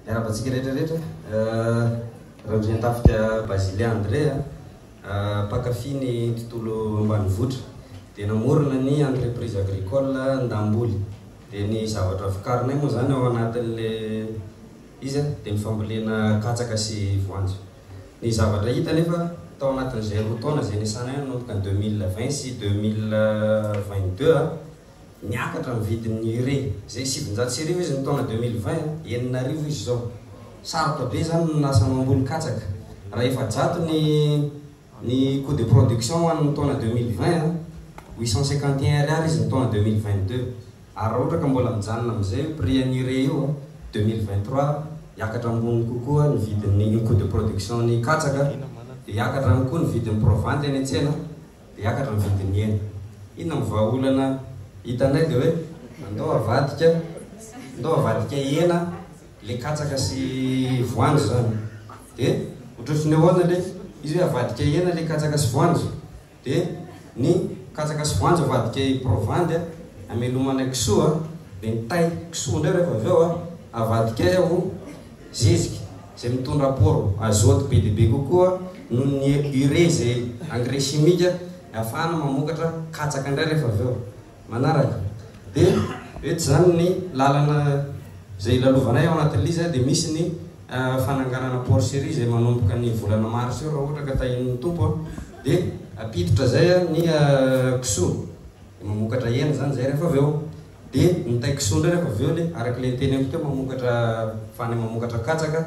Miarahaba antsika rehetra rehetra. Randriantafika Bazilien André, mpankafy ny tontolo ambanivohitra. Dia namorona ny entreprise agricole Ndamboly. Dia ny zavatra vokarinay moa izany ao anatin'ilay izy dia ny fambolena katsaka sy voanjo. Ny zavatra hita anefa, tao anatin'izay roa taona izay niasana eo nanomboka ny deux mille vingt sy deux mille vingt deux, niakatra ny vidin'ny urée, izay sivinjato sy arivo izy ny taona deux mille vingt, enina arivo izy izao. Sarotra be izany ny lasa mamboly katsaka. Raha efajato ny ny coût de production ho an'ny taona deux mille vingt, huit cent cinquante et un ariary izy ny taona deux mille vingt deux. Ary raha ohatra ka mbola mijanona amin'izay io prix an'irey io a, deux mille vingt trois, hiakatra ambony kokoa ny vidin'ny ny coût de production-n'ny katsaka, dia hiakatra ihany koa ny vidin'ny proventy any an-tsena, dia hiakatra ny vidin'ny hena. Inona no vahaolana hitanay dia hoe andao avadika, andao avadika hena ilay katsaka sy voanjo izany. Dia ohatrohatry ny ahoana ilay izy hoe avadika hena ilay katsaka sy voanjo? dia ny katsaka sy voanjo avadika i Provandy hamelomana ny kisoa, dia ny tay kisoa indray rehefa avy eo avadika ho zezika izay mitondra apôro azôty be dia be kokoa noho ny ire izay engrais chimique ahafahana mamokatra katsaka indray rehefa avy eo. manaraka dia eto izany ny lalana izay ilalovanay ao anatin'ny liza dia misy ny fananganana porcherie izay manomboka ny volana mars eo raha ohatra ka tahian'ny tompo a dia ampiditra izay ny kisoa dia mamokatra hena izany izay rehefa avy eo dia ny tay kisoa indray rehefa avy eo dia araka ilay niteneniko teo mamokatra fany mamokatra katsaka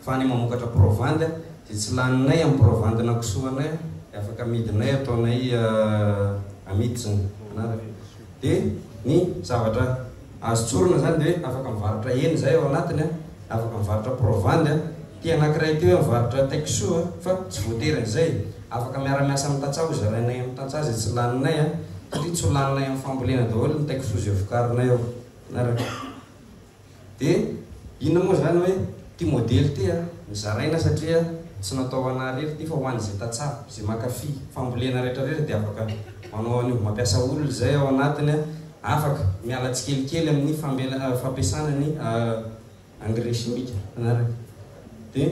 fa ny mamokatra provandy dia tsy laninay amin'ny provandy nakisoanay dia afaka amidinay ataonay amiditsiny anaraka dia ny zavatra azo tsorina izany dia hoe afaka mivarotra hena izahay ao anatiny na afaka mivarotra provandy ity anakiray ity hoe mivarotra takiso fa tsy voatery an'izay afaka miara-miasa amin'ny tantsaha ho zarainay amin'ny tantsaha izay tsy laninay satria tsy ho laninay amin'ny fambolena daholo ny takiso izay vokarinay ao anaraka Dia inona moa izany hoe ity modely ity a? Nozaraina satria tsy natao ho anà irery ity fa ho an'izay tantsaha, izay mankafy fambolena rehetrarehetra dia afaka manao an'io, mampiasa olona izay ao anatiny a, afaka miala tsikelikely amin'ny fambela, fampiasana ny engrais chimique. Manaraka? Dia.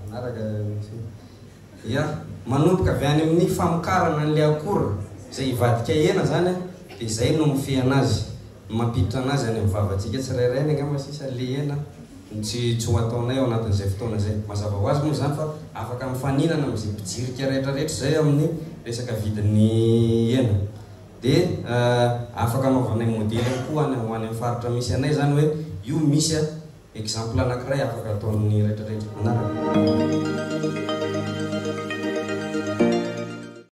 Manaraka misy hoe ya manomboka avy any amin'ny famokarana an'ilay akora izay hivadika hena izany dia izay no mifehy anazy, ny mampiditra anazy any amin'ny vavantsika tsirairay ny angamba sisa le hena no tsy tsy ho ataonay ao anatin'izay fotoana izay. Mazava ho azy moa izany fa afaka mifaninana amin'izay mpijirika rehetra rehetra izay amin'ny resaka vidin'ny hena. Dia afaka anaovanay modely ihany koa any ho any amin'ny faritra misy anay izany hoe io misy a! Exemple anakiray afaka atao amin'ny retraretra anarana.